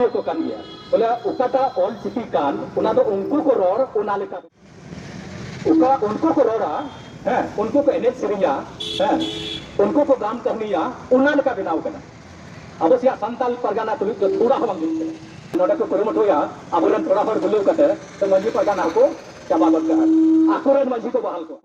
ᱮᱫ ᱠᱚ ᱠᱟᱱ ᱜᱮᱭᱟ ᱵᱚᱞᱮ ᱚᱠᱟᱴᱟᱜ ᱚᱞ ᱪᱤᱠᱤ ᱠᱟᱱ ᱚᱱᱟ ᱫᱚ ᱩᱱᱠᱩ ᱠᱚ ᱨᱚᱲ ᱚᱱᱟ ᱞᱮᱠᱟ ᱚᱠᱟ ᱩᱱᱠᱩ ᱠᱚ ᱨᱚᱲᱟ ᱦᱮᱸ ᱩᱱᱠᱩ ᱠᱚ ᱮᱱᱮᱡ ᱥᱮᱨᱮᱧᱟ ᱦᱮᱸ ᱩᱱᱠᱩ ᱠᱚ ᱜᱟᱢ ᱠᱟᱹᱦᱱᱤᱭᱟ ᱚᱱᱟ ᱞᱮᱠᱟ ᱵᱮᱱᱟᱣ ᱠᱟᱱᱟ ᱟᱵᱚ ᱥᱮᱭᱟᱜ ᱥᱟᱱᱛᱟᱞ ᱯᱟᱨᱜᱟᱱᱟ ᱛᱩᱞᱩᱡ ᱫᱚ ᱛᱷᱚᱲᱟ ᱦᱚᱸ ᱵᱟᱝ ᱡᱩᱛ ᱠᱟᱱᱟ ᱱᱚᱰᱮ ᱠᱚ ᱠᱩᱨᱩᱢᱩᱴᱩᱭᱟ ᱟᱵᱚᱨᱮᱱ ᱛᱷᱚᱲᱟ ᱦᱚᱲ ᱵᱩᱞᱟᱹᱣ ᱠᱟᱛᱮ ᱛᱚ ᱢᱟᱹᱡᱷᱤ ᱯᱟᱨᱜᱟᱱᱟ ᱦᱚᱸᱠᱚ ᱪᱟᱵᱟ ᱜᱚᱫ ᱠᱟᱜᱼᱟ ᱟᱠᱚᱨᱮᱱ ᱢᱟᱹᱡᱷᱤ ᱠᱚ ᱵᱟᱦᱟᱞ ᱠᱚᱣᱟ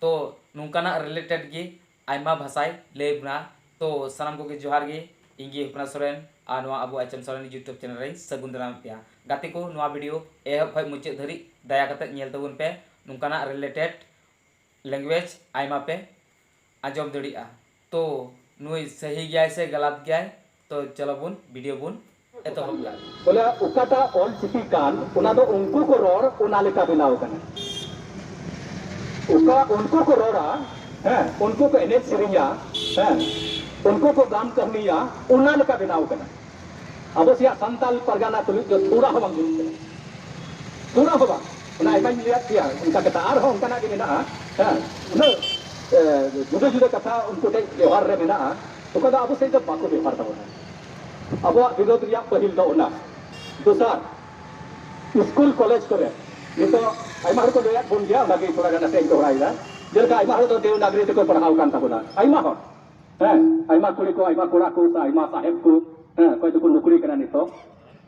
ᱛᱚ ᱱᱚᱝᱠᱟᱱᱟᱜ ᱨᱤᱞᱮᱴᱮᱰ ᱜᱮ ᱟᱭᱢᱟ ᱵᱷᱟᱥᱟᱭ ᱞᱟᱹᱭ ᱵᱚᱱᱟ ᱛᱚ ᱥᱟᱱᱟᱢ ᱠᱚᱜᱮ ᱡᱚᱦᱟᱨ ᱜᱮ ᱤᱧ ᱜᱮ ᱦᱚᱯᱱᱟ ᱥᱚᱨᱮᱱ ᱟᱨ ᱱᱚᱣᱟ ᱟᱵᱚ ᱟᱪᱮᱢ ᱥᱚᱨᱮᱱ ᱭᱩᱴᱩᱵᱽ ᱪᱮᱱᱮᱞ ᱨᱮᱧ ᱥᱟᱹᱜᱩᱱ ᱫᱟᱨᱟᱢᱮᱫ ᱯᱮᱭᱟ ᱜᱟᱛᱮ ᱠᱚ ᱱᱚᱣᱟ ᱵᱷᱤᱰᱤᱭᱳ ᱮᱦᱚᱵ ᱠᱷᱚᱱ ᱢᱩᱪᱟᱹᱫ ᱫᱷᱟᱹᱨᱤᱡ ᱫᱟᱭᱟ ᱠᱟᱛᱮ ᱧᱮᱞ ᱛᱟᱵᱚᱱ ᱯᱮ ᱱᱚᱝᱠᱟᱱᱟᱜ ᱨᱤᱞᱮᱴᱮᱰ ᱞᱮᱝᱜᱩᱭᱮᱡᱽ ᱟᱭᱢᱟ ᱯᱮ ᱟᱸᱡᱚᱢ ᱫᱟᱲᱮᱭᱟᱜᱼᱟ ᱛᱚ ᱱᱩᱭ ᱥᱟᱹᱦᱤ ᱜᱮᱭᱟᱭ ᱥᱮ ᱜᱟᱞᱟᱛ ᱜᱮᱭᱟᱭ ᱛᱚ ᱪᱚᱞᱚ ᱵᱚᱱ ᱵᱤᱰᱤᱭᱳ ᱵᱚᱱ ᱮᱛᱚᱦᱚᱵ ᱫᱟ᱾ ᱵᱚᱞᱮ ᱚᱠᱟᱴᱟᱜ ᱚᱞ ᱪᱤᱠᱤ ᱠᱟᱱ ᱚᱱᱟ ᱫᱚ ᱩᱱᱠᱩ ᱠᱚ ᱨᱚᱲ ᱚᱱᱟ ᱞᱮᱠᱟ ᱵᱮᱱᱟᱣ ᱟᱠᱟᱱᱟ᱾ ᱚᱠᱟ ᱩᱱᱠᱩ ᱠᱚ ᱨᱚᱲᱟ ᱦᱮᱸ ᱩᱱᱠᱩ ᱠᱚ ᱮᱱᱮᱡ ᱥᱮᱨᱮᱧᱟ ᱦᱮᱸ ᱩᱱᱠᱩ ᱠᱚ ᱜᱟᱢ ᱠᱟᱹᱦᱱᱤᱭᱟ ᱚᱱᱟ ᱞᱮᱠᱟ ᱵᱮᱱᱟᱣ ᱟᱠᱟᱱᱟ᱾ ᱟᱵᱚ ᱥᱮᱭᱟᱜ ᱥᱟᱱᱛᱟᱞ ᱯᱟᱨᱜᱟᱱᱟ ᱛᱩᱞᱩᱡ ᱫᱚ ᱛᱷᱚᱲᱟ ᱦᱚᱸ ᱵᱟᱝ ᱡᱩᱛ ᱠᱟᱱᱟ᱾ ᱛᱷᱚᱲᱟ ᱦᱚᱸ ᱵᱟᱝ ᱚᱱᱟ ᱟᱭᱢᱟᱧ ᱞᱟᱹᱭᱟᱫ ᱯᱮᱭᱟ ᱚᱱᱠᱟ ᱠᱟᱛᱷᱟ ᱟᱨ ᱦᱚᱸ ᱚᱱᱠᱟᱱᱟᱜ ᱜᱮ ᱢᱮᱱᱟᱜᱼᱟ ᱦᱮᱸ ᱩᱱᱟᱹᱜ ᱡᱩᱫᱟᱹ ᱡᱩᱫᱟᱹ ᱠᱟᱛᱷᱟ ᱩᱱᱠᱩ ᱴᱷᱮᱡ ᱵᱮᱣᱦᱟᱨ ᱨᱮ ᱢᱮᱱᱟᱜᱼᱟ᱾ ᱚᱠᱟ ᱫᱚ ᱟᱵᱚ ᱥᱮᱫ ᱫᱚ ᱵᱟᱠᱚ ᱵᱮᱵᱷᱟᱨ ᱛᱟᱵᱚᱱᱟ ᱟᱵᱚᱣᱟᱜ ᱵᱤᱨᱳᱫᱷ ᱨᱮᱭᱟᱜ ᱯᱟᱹᱦᱤᱞ ᱫᱚ ᱚᱱᱟ ᱫᱚᱥᱟᱨ ᱥᱠᱩᱞ ᱠᱚᱞᱮᱡᱽ ᱠᱚᱨᱮ ᱱᱤᱛᱚᱜ ᱟᱭᱢᱟ ᱦᱚᱲ ᱠᱚ ᱞᱟᱹᱭᱟᱫ ᱵᱚᱱ ᱜᱮᱭᱟ ᱚᱱᱟᱜᱮ ᱛᱷᱚᱲᱟ ᱜᱟᱱ ᱟᱛᱮᱫ ᱤᱧ ᱫᱚᱦᱲᱟᱭᱮᱫᱟ ᱡᱮᱞᱮᱠᱟ ᱟᱭᱢᱟ ᱦᱚᱲ ᱫᱚ ᱫᱮᱣᱱᱟᱜᱨᱤ ᱛᱮᱠᱚ ᱯᱟᱲᱦᱟᱣ ᱟᱠᱟᱱ ᱛᱟᱵᱚᱱᱟ ᱟᱭᱢᱟ ᱦᱚᱲ ᱦᱮᱸ ᱟᱭᱢᱟ ᱠᱩᱲᱤ ᱠᱚ ᱟᱭᱢᱟ ᱠᱚᱲᱟ ᱠᱚ ᱥᱮ ᱟᱭᱢᱟ ᱥᱟᱦᱮᱵᱽ ᱠᱚ ᱦᱮᱸ ᱚᱠᱚᱭ ᱫᱚᱠᱚ ᱱᱩᱠᱨᱤ ᱠᱟᱱᱟ ᱱᱤᱛᱚᱜ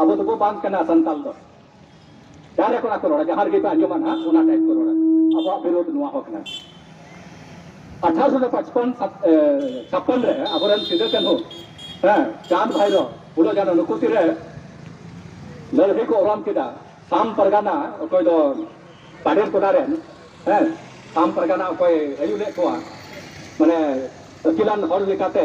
ᱟᱵᱚ ᱫᱚᱵᱚ ᱵᱟᱝ ᱠᱟᱱᱟ ᱥᱟᱱᱛᱟᱞ ᱫᱚ ᱡᱟᱦᱟᱸ ᱠᱚᱲᱟ ᱠᱚ ᱨᱚᱲᱟ ᱡᱟᱦᱟᱸ ᱨᱮᱜᱮ ᱯᱮ ᱟᱸᱡᱚᱢᱟ ᱱᱟᱦᱟᱜ ᱚᱱᱟ ᱴᱟᱭᱤᱯ ᱠᱚ ᱨᱚᱲᱟ ᱟᱵᱚᱣᱟᱜ ᱵᱤᱨᱳᱫᱷ ᱱᱚᱣᱟ ᱦᱚᱸ ᱠᱟᱱᱟ ᱟᱴᱷᱟᱨᱚᱥᱚ ᱯᱟᱸᱪᱯᱚᱱ ᱪᱷᱟᱯᱯᱚᱱ ᱨᱮ ᱟᱵᱚᱨᱮᱱ ᱥᱤᱫᱟᱹ ᱠᱟᱹᱱᱦᱩ ᱦᱮᱸ ᱪᱟᱸᱫ ᱵᱷᱟᱭᱨᱚ ᱯᱷᱩᱞᱚ ᱡᱟᱱᱚ ᱱᱩᱠᱩ ᱛᱤᱨᱮ ᱞᱟᱹᱲᱦᱟᱹᱭ ᱠᱚ ᱚᱨᱚᱢ ᱠᱮᱫᱟ ᱥᱟᱢ ᱯᱟᱨᱜᱟᱱᱟ ᱚᱠᱚᱭ ᱫᱚ ᱯᱟᱰᱮᱨ ᱠᱚᱰᱟ ᱨᱮᱱ ᱦᱮᱸ ᱥᱟᱢ ᱯᱟᱨᱜᱟᱱᱟ ᱚᱠᱚᱭ ᱟᱹᱭᱩᱨ ᱞᱮᱫ ᱠᱚᱣᱟ ᱢᱟᱱᱮ ᱟᱹᱠᱤᱞᱟᱱ ᱦᱚᱲ ᱞᱮᱠᱟᱛᱮ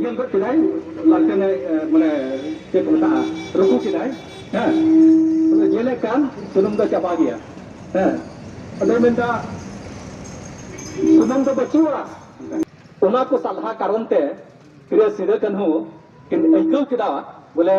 ᱧᱮᱞ ᱜᱚᱫ ᱠᱮᱫᱟᱭ ᱞᱟᱞᱴᱮᱱᱮ ᱢᱟᱱᱮ ᱪᱮᱫ ᱠᱚ ᱢᱮᱛᱟᱜᱼᱟ ᱨᱩᱠᱩ ᱠᱮᱫᱟᱭ ᱦᱮᱸ ᱟᱫᱚ ᱧᱮᱞᱮᱫ ᱠᱟᱱ ᱥᱩᱱᱩᱢ ᱫᱚ ᱪᱟᱵᱟ ᱜᱮᱭᱟ ᱦᱮᱸ ᱟᱫᱚᱭ ᱢᱮᱱᱫᱟ ᱥᱩᱱᱩᱢ ᱫᱚ ᱵᱟᱹᱪᱩᱜᱼᱟ ᱚᱱᱟ ᱠᱚ ᱥᱟᱞᱦᱟ ᱠᱟᱨᱚᱱ ᱛᱮ ᱯᱷᱤᱨᱮ ᱥᱤᱫᱟᱹ ᱠᱟᱹᱱᱦᱩ ᱠᱤᱱ ᱟᱹᱭᱠᱟᱹᱣ ᱠᱮᱫᱟ ᱵᱚᱞᱮ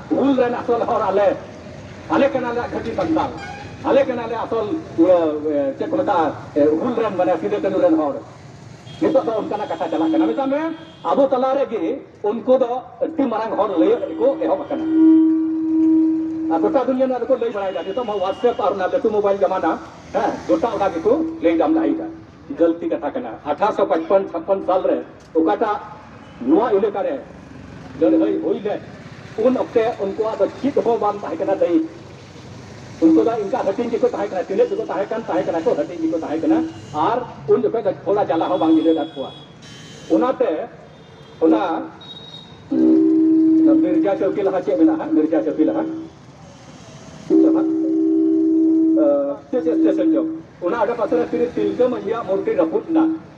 ᱦᱩᱞ ᱨᱮᱱ ᱟᱥᱚᱞ ᱦᱚᱲ ᱟᱞᱮ ᱟᱞᱮ ᱠᱟᱱᱟᱞᱮ ᱠᱷᱟᱹᱴᱤ ᱥᱟᱱᱛᱟᱲ ᱟᱞᱮ ᱠᱟᱱᱟᱞᱮ ᱟᱥᱚᱞ ᱪᱮᱫ ᱠᱚ ᱢᱮᱛᱟᱜᱼᱟ ᱦᱩᱞ ᱨᱮᱱ ᱢᱟᱱᱮ ᱥᱤᱫᱩ ᱠᱟᱹᱱᱩ ᱨᱮᱱ ᱦᱚᱲ ᱱᱤᱛᱚᱜ ᱫᱚ ᱚᱱᱠᱟᱱᱟᱜ ᱠᱟᱛᱷᱟ ᱪᱟᱞᱟᱜ ᱠᱟᱱᱟ ᱢᱮᱛᱟᱜ ᱢᱮ ᱟᱵᱚ ᱛᱟᱞᱟ ᱨᱮᱜᱮ ᱩᱱᱠᱩ ᱫᱚ ᱟᱹᱰᱤ ᱢᱟᱨᱟᱝ ᱦᱚᱲ ᱞᱟᱹᱭ ᱠᱚ ᱮᱦᱚᱵ ᱟᱠᱟᱱᱟ ᱟᱨ ᱜᱚᱴᱟ ᱫᱩᱱᱤᱭᱟᱹ ᱱᱚᱣᱟ ᱫᱚᱠᱚ ᱞᱟᱹᱭ ᱵᱟᱲᱟᱭᱮᱫᱟ ᱱᱤᱛᱚᱜ ᱢᱟ ᱦᱳᱣᱟᱴᱥᱮᱯ ᱟᱨ ᱚᱱᱟ ᱞᱟᱹᱴᱩ ᱢᱳᱵᱟᱭᱤᱞ ᱡᱟᱢᱟᱱᱟ ᱦᱮᱸ ᱜᱚᱴᱟ ᱚᱱᱟ ᱜᱮᱠᱚ ᱞᱟᱹᱭ ᱫᱟᱢ ᱫᱟᱲᱮᱭᱮᱫᱟ ᱜᱟᱹᱞᱛᱤ ᱠᱟᱛᱷᱟ ᱠᱟᱱᱟ ᱟᱴᱷᱟᱥᱚ ᱯᱟᱸᱪᱯᱚᱱ ᱪᱷᱟᱯᱯᱚᱱ ᱥᱟᱞ ᱨᱮ ᱚᱠᱟᱴᱟᱜ ᱱᱚᱣᱟ ᱮᱞᱟᱠᱟ ᱨᱮ ᱞᱟᱹᱲᱦᱟᱹᱭ ᱦᱩᱭ ᱞᱮᱫ ᱩᱱ ᱚᱠᱛᱮ ᱩᱱᱠᱩᱣᱟᱜ ᱫᱚ ᱪᱮᱫ ᱦᱚᱸ ᱵᱟᱝ ᱛᱟᱦᱮᱸ ᱠᱟᱱᱟ ᱫᱟᱭᱤᱛ ᱩᱱᱠᱩ ᱫᱚ ᱤᱱᱠᱟ ᱦᱟᱹᱴᱤᱧ ᱜᱮᱠᱚ ᱛᱟᱦᱮᱸ ᱠᱟᱱᱟ ᱛᱤᱱᱟᱹᱜ ᱜᱮᱠᱚ ᱛᱟᱦᱮᱸ ᱠᱟᱱ ᱛᱟᱦᱮᱸ ᱠᱟᱱᱟ ᱠᱚ ᱦᱟᱹᱴᱤᱧ ᱜᱮᱠᱚ ᱛᱟᱦᱮᱸ ᱠᱟᱱᱟ ᱟᱨ ᱩᱱ ᱡᱚᱠᱷᱚᱱ ᱫᱚ ᱛᱷᱚᱲᱟ ᱡᱟᱞᱟ ᱦᱚᱸ ᱵᱟᱝ ᱧᱤᱫᱟᱹ ᱟᱠᱟᱫ ᱠᱚᱣᱟ ᱚᱱᱟᱛᱮ ᱚᱱᱟ ᱢᱤᱨᱡᱟ ᱪᱚᱣᱠᱤ ᱞᱟᱦᱟ ᱪᱮᱫ ᱢᱮᱱᱟᱜᱼᱟ ᱢᱤᱨᱡᱟ ᱪᱚᱣᱠᱤ ᱞᱟᱦᱟ ᱪᱮᱫ ᱪᱮᱫ ᱥᱴᱮᱥᱚᱱ ᱪᱚ ᱚᱱᱟ ᱟᱰᱮ ᱯᱟᱥᱮ ᱨᱮ ᱛᱤᱨᱤ ᱛᱤᱞᱠᱟᱹ ᱢᱟᱹᱡᱷᱤᱭᱟᱜ ᱢᱩᱨᱛᱤ ᱨᱟᱹᱯᱩᱫ ᱮᱱᱟ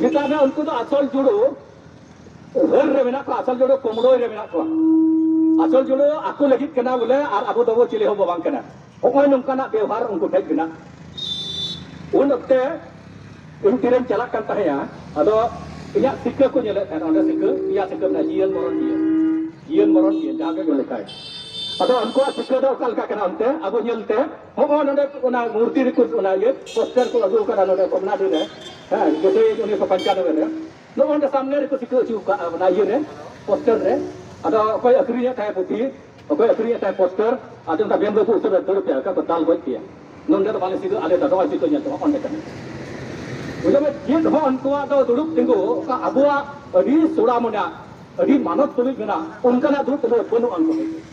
ᱢᱮᱛᱟᱜ ᱢᱮ ᱩᱱᱠᱩ ᱫᱚ ᱟᱥᱚᱞ ᱡᱩᱲᱩ ᱦᱟᱹᱨ ᱨᱮ ᱢᱮᱱᱟᱜ ᱠᱚᱣᱟ ᱟᱥᱚᱞ ᱡᱩᱲᱩ ᱠᱩᱢᱲᱳᱭ ᱨᱮ ᱢᱮᱱᱟᱜ ᱠᱚᱣᱟ ᱟᱥᱚᱞ ᱡᱩᱲᱩ ᱟᱠᱚ ᱞᱟᱹᱜᱤᱫ ᱠᱟᱱᱟ ᱵᱚᱞᱮ ᱟᱨ ᱟᱵᱚ ᱫᱚᱵᱚ ᱪᱤᱞᱤ ᱦᱚᱸ ᱵᱟᱝ ᱠᱟᱱᱟ ᱦᱚᱸᱜᱼᱚᱭ ᱱᱚᱝᱠᱟᱱᱟᱜ ᱵᱮᱣᱦᱟᱨ ᱩᱱᱠᱩ ᱴᱷᱮᱡ ᱢᱮᱱᱟᱜ ᱩᱱ ᱚᱠᱛᱮ ᱤᱧ ᱛᱤᱨᱮᱧ ᱪᱟᱞᱟᱜ ᱠᱟᱱ ᱛᱟᱦᱮᱸᱭᱟ ᱟᱫᱚ ᱤᱧᱟᱹᱜ ᱥᱤᱠᱟᱹ ᱠᱚ ᱧᱮᱞᱮᱫ ᱛᱟᱦᱮᱸᱱᱟ ᱚᱸᱰᱮ ᱥᱤᱠᱟᱹ ᱯᱮᱭᱟ ᱥᱤᱠᱟᱹ ᱢᱮᱱᱟᱜᱼᱟ ᱡᱤᱭᱚᱱ ᱢᱚᱨᱚᱱ ᱡᱤᱭᱚᱱ ᱡᱤᱭᱚᱱ ᱢᱚᱨᱚᱱ ᱡᱤᱭᱚᱱ ᱡᱟᱦᱟᱸ ᱜᱮ ᱞᱮᱠᱷᱟᱭ ᱟᱫᱚ ᱩᱱᱠᱩᱣᱟᱜ ᱥᱤᱠᱟᱹ ᱫᱚ ᱚᱠᱟ ᱞᱮᱠᱟ ᱠᱟᱱᱟ ᱚᱱᱛᱮ ᱟᱵᱚ ᱧᱮᱞᱛᱮ ᱦᱚᱸᱜᱼᱚ ᱱᱚᱰᱮ ᱚᱱᱟ ᱢᱩᱨᱛᱤ ᱨᱮᱠᱚ ᱚᱱᱟ ᱤᱭᱟᱹ ᱯᱳᱥᱴᱟᱨ ᱠᱚ ᱟᱹᱜᱩ ᱠᱟᱫᱟ ᱱᱚᱰᱮ ᱠᱚᱢᱱᱟᱰᱤ ᱨᱮ ᱦᱮᱸ ᱡᱚᱛᱚ ᱩᱱᱤᱥᱥᱚ ᱯᱚᱧᱪᱟᱱᱚᱵᱮ ᱨᱮ ᱱᱚᱜᱼᱚ ᱱᱚᱰᱮ ᱥᱟᱢᱱᱮ ᱨᱮᱠᱚ ᱴᱤᱠᱟᱹ ᱦᱚᱪᱚ ᱠᱟᱜᱼᱟ ᱚᱱᱟ ᱤᱭᱟᱹ ᱨᱮ ᱯᱳᱥᱴᱟᱨ ᱨᱮ ᱟᱫᱚ ᱚᱠᱚᱭ ᱟᱹᱠᱷᱨᱤᱧᱮᱫ ᱛᱟᱦᱮᱸ ᱯᱩᱛᱷᱤ ᱚᱠᱚᱭ ᱟᱹᱠᱷᱨᱤᱧᱮᱫ ᱛᱟᱦᱮᱸ ᱯᱳᱥᱴᱟᱨ ᱟᱫᱚ ᱚᱱᱠᱟ ᱵᱮᱢ ᱵᱟᱹᱵᱩ ᱩᱛᱟᱹᱨ ᱫᱟᱹᱲ ᱯᱮᱭᱟ ᱚᱠᱟ ᱠᱚ ᱫᱟᱞ ᱜᱚᱡ ᱯᱮᱭᱟ ᱱᱚᱰᱮ ᱫᱚ ᱵᱟᱞᱮ ᱥᱤᱫᱩ ᱟᱞᱮ ᱫᱚ ᱱᱚᱜᱼᱚᱭ ᱪᱤᱠᱟᱹ ᱧᱮᱞ ᱛᱟᱢᱟ ᱚᱸᱰᱮ ᱠᱟᱱᱟ ᱵᱩᱡᱷᱟᱹᱣ ᱢᱮ ᱪᱮᱫ ᱦᱚᱸ ᱩᱱᱠᱩᱣᱟᱜ ᱫᱚ ᱫᱩᱲᱩᱵ ᱛᱤᱸᱜᱩ ᱚᱠᱟ ᱟᱵᱚᱣᱟᱜ ᱟᱹᱰᱤ ᱥᱚᱲᱟ ᱢᱮᱱᱟᱜ ᱟᱹᱰᱤ ᱢᱟᱱᱚᱛ ᱛᱩᱞᱩᱡ ᱢᱮᱱᱟᱜ ᱚᱱᱠᱟᱱᱟᱜ ᱫᱩᱲᱩᱵ ᱛᱤᱸᱜᱩ ᱵᱟᱹᱱᱩᱜᱼᱟ ᱩᱱᱠᱩ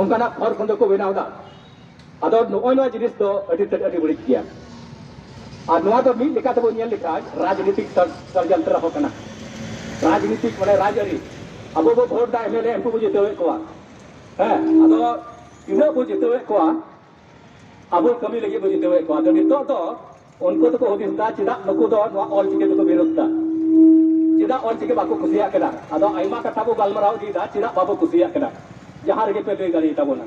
ᱚᱱᱠᱟᱱᱟᱜ ᱠᱷᱚᱲ ᱠᱷᱚᱸᱫᱚ ᱠᱚ ᱵᱮᱱᱟᱣ ᱮᱫᱟ ᱟᱫᱚ ᱱᱚᱜᱼᱚᱭ ᱱᱚᱣᱟ ᱡᱤᱱᱤᱥ ᱫᱚ ᱟᱹᱰᱤ ᱛᱮᱫ ᱟᱹᱰᱤ ᱵᱟᱹᱲᱤᱡ ᱜᱮᱭᱟ ᱟᱨ ᱱᱚᱣᱟ ᱫᱚ ᱢᱤᱫ ᱞᱮᱠᱟ ᱛᱮᱵᱚ ᱧᱮᱞ ᱞᱮᱠᱷᱟᱱ ᱨᱟᱡᱽᱱᱤᱛᱤᱠ ᱥᱟᱨᱡᱟᱱᱛᱨᱟ ᱦᱚᱸ ᱠᱟᱱᱟ ᱨᱟᱡᱽᱱᱤᱛᱤᱠ ᱢᱟᱱᱮ ᱨᱟᱡᱽᱟᱹᱨᱤ ᱟᱵᱚ ᱵᱚ ᱵᱷᱳᱴ ᱫᱟ ᱮᱢᱮᱞᱮ ᱩᱱᱠᱩ ᱵᱚ ᱡᱤᱛᱟᱹᱣᱮᱫ ᱠᱚᱣᱟ ᱦᱮᱸ ᱟᱫᱚ ᱛᱤᱱᱟᱹᱜ ᱵᱚ ᱡᱤᱛᱟᱹᱣᱮᱫ ᱠᱚᱣᱟ ᱟᱵᱚ ᱠᱟᱹᱢᱤ ᱞᱟᱹᱜᱤᱫ ᱵᱚᱱ ᱡᱤᱛᱟᱹᱣᱮᱫ ᱠᱚᱣᱟ ᱟᱫᱚ ᱱᱤᱛᱚᱜ ᱫᱚ ᱩᱱᱠᱩ ᱫᱚᱠᱚ ᱦᱩᱫᱤᱥ ᱫᱟ ᱪᱮᱫᱟᱜ ᱱᱩᱠᱩ ᱫᱚ ᱱᱚᱣᱟ ᱚᱞ ᱪᱤᱠᱤ ᱫᱚᱠᱚ ᱵᱤᱨᱳᱫ ᱫᱟ ᱪᱮᱫᱟᱜ ᱚᱞ ᱪᱤᱠᱤ ᱵᱟᱠᱚ ᱠᱩᱥᱤᱭᱟᱜ ᱠᱟᱱᱟ ᱟᱫᱚ ᱟᱭᱢᱟ ᱠᱟᱛᱷᱟ ᱵᱚ ᱜᱟᱞᱢᱟᱨᱟᱣ ᱤᱫᱤᱭᱮᱫᱟ ᱪᱮᱫᱟᱜ ᱵᱟᱵᱚ ᱠᱩᱥᱤᱭᱟᱜ ᱠᱟᱱᱟ ᱡᱟᱦᱟᱸ ᱨᱮᱜᱮ ᱯᱮ ᱞᱟᱹᱭ ᱫᱟᱲᱮᱭᱟ ᱛᱟᱵᱚᱱᱟ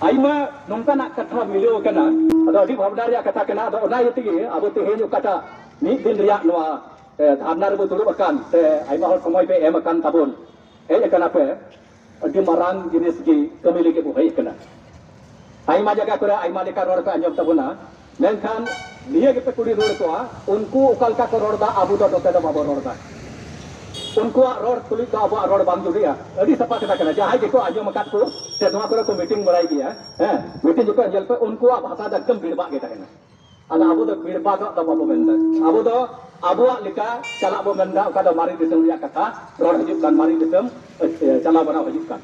ᱟᱭᱢᱟ ᱱᱚᱝᱠᱟᱱᱟᱜ ᱠᱟᱛᱷᱟ ᱢᱤᱞᱟᱹᱣ ᱠᱟᱱᱟ ᱟᱫᱚ ᱟᱹᱰᱤ ᱵᱷᱟᱵᱽᱱᱟ ᱨᱮᱭᱟᱜ ᱠᱟᱛᱷᱟ ᱠᱟᱱᱟ ᱟᱫᱚ ᱚᱱᱟ ᱤᱭᱟᱹ ᱛᱮᱜᱮ ᱟᱵᱚ ᱛᱮᱦᱮᱧ ᱚᱠᱟᱴᱟᱜ ᱢᱤᱫ ᱫᱤᱱ ᱨᱮᱭᱟᱜ ᱱᱚᱣᱟ ᱫᱷᱟᱨᱱᱟ ᱨᱮᱵᱚ ᱫᱩᱲᱩᱵ ᱟᱠᱟᱱ ᱥᱮ ᱟᱭᱢᱟ ᱦᱚᱲ ᱥᱚᱢᱚᱭ ᱯᱮ ᱮᱢ ᱟᱠᱟᱱ ᱛᱟᱵᱚᱱ ᱦᱮᱡ ᱟᱠᱟᱱᱟ ᱯᱮ ᱟᱹᱰᱤ ᱢᱟᱨᱟᱝ ᱡᱤᱱᱤᱥ ᱜᱮ ᱠᱟᱹᱢᱤ ᱞᱟᱹᱜᱤᱫ ᱵᱚ ᱦᱮᱡ ᱟᱠᱟᱱᱟ ᱟᱭᱢᱟ ᱡᱟᱭᱜᱟ ᱠᱚᱨᱮ ᱟᱭᱢᱟ ᱞᱮᱠᱟ ᱨᱚᱲ ᱯᱮ ᱟᱸᱡᱚᱢ ᱛᱟᱵᱚᱱᱟ ᱢᱮᱱᱠᱷᱟᱱ ᱱᱤᱭᱟᱹ ᱜᱮᱯᱮ ᱠᱩᱞᱤ ᱨᱩᱣᱟᱹᱲ ᱠᱚᱣᱟ ᱩᱱᱠᱩ ᱚᱠᱟ ᱞᱮᱠᱟ ᱠᱚ ᱨᱚᱲᱫᱟ ᱟᱵᱚ ᱫᱚ ᱱᱚᱛᱮ ᱫᱚ ᱵᱟᱵᱚ ᱨᱚᱲᱫᱟ ᱩᱱᱠᱩᱣᱟᱜ ᱨᱚᱲ ᱛᱩᱞᱩᱡ ᱫᱚ ᱟᱵᱚᱣᱟᱜ ᱨᱚᱲ ᱵᱟᱝ ᱡᱩᱲᱤᱜᱼᱟ ᱟᱹᱰᱤ ᱥᱟᱯᱷᱟ ᱠᱟᱛᱷᱟ ᱠᱟᱱᱟ ᱡᱟᱦᱟᱸᱭ ᱜᱮᱠᱚ ᱟᱸᱡᱚᱢ ᱟᱠᱟᱫ ᱠᱚ ᱥᱮ ᱱᱚᱣᱟ ᱠᱚᱨᱮ ᱠᱚ ᱢᱤᱴᱤᱝ ᱵᱟᱲᱟᱭ ᱜᱮᱭᱟ ᱦᱮᱸ ᱢᱤᱴᱤᱝ ᱡᱚᱠᱷᱚᱱ ᱧᱮᱞ ᱯᱮ ᱩᱱᱠᱩᱣᱟᱜ ᱵᱷᱟᱥᱟ ᱫᱚ ᱮᱠᱫᱚᱢ ᱵᱷᱤᱲᱵᱟᱜ ᱜᱮ ᱛᱟᱦᱮᱱᱟ ᱟᱫᱚ ᱟᱵᱚ ᱫᱚ ᱵᱤᱲᱯᱟ ᱫᱚ ᱟᱫᱚ ᱵᱟᱵᱚ ᱢᱮᱱᱫᱟ ᱟᱵᱚ ᱫᱚ ᱟᱵᱚᱣᱟᱜ ᱞᱮᱠᱟ ᱪᱟᱞᱟᱜ ᱵᱚ ᱢᱮᱱᱫᱟ ᱚᱠᱟ ᱫᱚ ᱢᱟᱨᱮ ᱫᱤᱥᱚᱢ ᱨᱮᱭᱟᱜ ᱠᱟᱛᱷᱟ ᱨᱚᱲ ᱦᱤᱡᱩᱜ ᱠᱟᱱ ᱢᱟᱨᱮ ᱫᱤᱥᱚᱢ ᱪᱟᱞᱟᱣ ᱵᱟᱲᱟ ᱦᱤᱡᱩᱜ ᱠᱟᱱ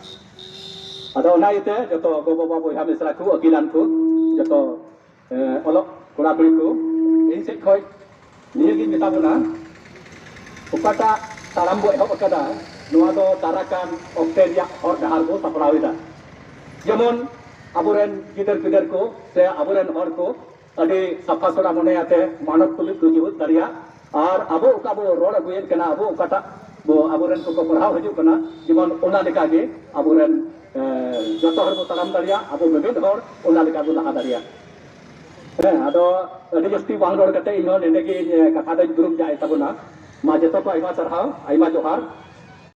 ᱟᱫᱚ ᱚᱱᱟ ᱤᱭᱟᱹᱛᱮ ᱡᱚᱛᱚ ᱜᱚ ᱵᱟᱵᱟ ᱵᱚᱭᱦᱟ ᱢᱤᱥᱨᱟ ᱠᱚ ᱟᱹᱠᱤᱞᱟᱱ ᱠᱚ ᱡᱚᱛᱚ ᱚᱞᱚᱜ ᱠᱚᱲᱟ ᱠᱩᱲᱤ ᱠᱚ ᱤᱧ ᱥᱮᱫ ᱠᱷᱚᱱ ᱱᱤᱭᱟᱹ ᱜᱤᱧ ᱢᱮᱛᱟ ᱵᱚᱱᱟ ᱚᱠᱟᱴᱟᱜ ᱛᱟᱲᱟᱢ ᱵᱚ ᱮᱦᱚᱵ ᱟᱠᱟᱫᱟ ᱱᱚᱣᱟ ᱫᱚ ᱫᱟᱨᱟᱠᱟᱱ ᱚᱠᱛᱮ ᱨᱮᱭᱟᱜ ᱦᱚᱨ ᱰᱟᱦᱟᱨ ᱵᱚ ᱥᱟᱯᱲᱟᱣ ᱮᱫᱟ ᱡᱮᱢᱚᱱ ᱟᱵᱚᱨᱮᱱ ᱜᱤᱫᱟᱹᱨ ᱯᱤᱫᱟᱹᱨ ᱠᱚ ᱥᱮ ᱟᱵᱚᱨᱮᱱ ᱦᱚᱲ ᱠᱚ ᱟᱹᱰᱤ ᱥᱟᱯᱷᱟ ᱥᱚᱲᱟ ᱢᱚᱱᱮ ᱟᱛᱮ ᱢᱟᱱᱚᱛ ᱛᱩᱞᱩᱡ ᱠᱚ ᱡᱩᱦᱩᱫ ᱫᱟᱲᱮᱭᱟᱜ ᱟᱨ ᱟᱵᱚ ᱚᱠᱟ ᱵᱚ ᱨᱚᱲ ᱟᱹᱜᱩᱭᱮᱫ ᱠᱟᱱᱟ ᱟᱵᱚ ᱚᱠᱟᱴᱟᱜ ᱵᱚ ᱟᱵᱚᱨᱮᱱ ᱠᱚᱠᱚ ᱯᱟᱲᱦᱟᱣ ᱦᱤᱡᱩᱜ ᱠᱟᱱᱟ ᱡᱮᱢᱚᱱ ᱚᱱᱟ ᱞᱮᱠᱟᱜᱮ ᱟᱵᱚᱨᱮᱱ ᱡᱚᱛᱚ ᱦᱚᱲ ᱵᱚ ᱛᱟᱲᱟᱢ ᱫᱟᱲᱮᱭᱟᱜ ᱟᱵᱚ ᱢᱤᱢᱤᱫ ᱦᱚᱲ ᱚᱱᱟ ᱞᱮᱠᱟ ᱵᱚ ᱞᱟᱦᱟ ᱫᱟᱲᱮᱭᱟᱜ ᱦᱮᱸ ᱟᱫᱚ ᱟᱹᱰᱤ ᱡᱟᱹᱥᱛᱤ ᱵᱟᱝ ᱨᱚᱲ ᱠᱟᱛᱮ ᱤᱧ ᱦᱚᱸ ᱱᱚᱰᱮ ᱜᱮ ᱠᱟᱛᱷᱟ ᱫᱚᱧ ᱫᱩᱲᱩᱵ ᱡᱟᱭ ᱛᱟᱵᱚᱱᱟ ᱢᱟ ᱡᱚᱛᱚ ᱠᱚ ᱟᱭᱢᱟ ᱥᱟᱨᱦᱟᱣ ᱟᱭᱢᱟ ᱡᱚᱦᱟᱨ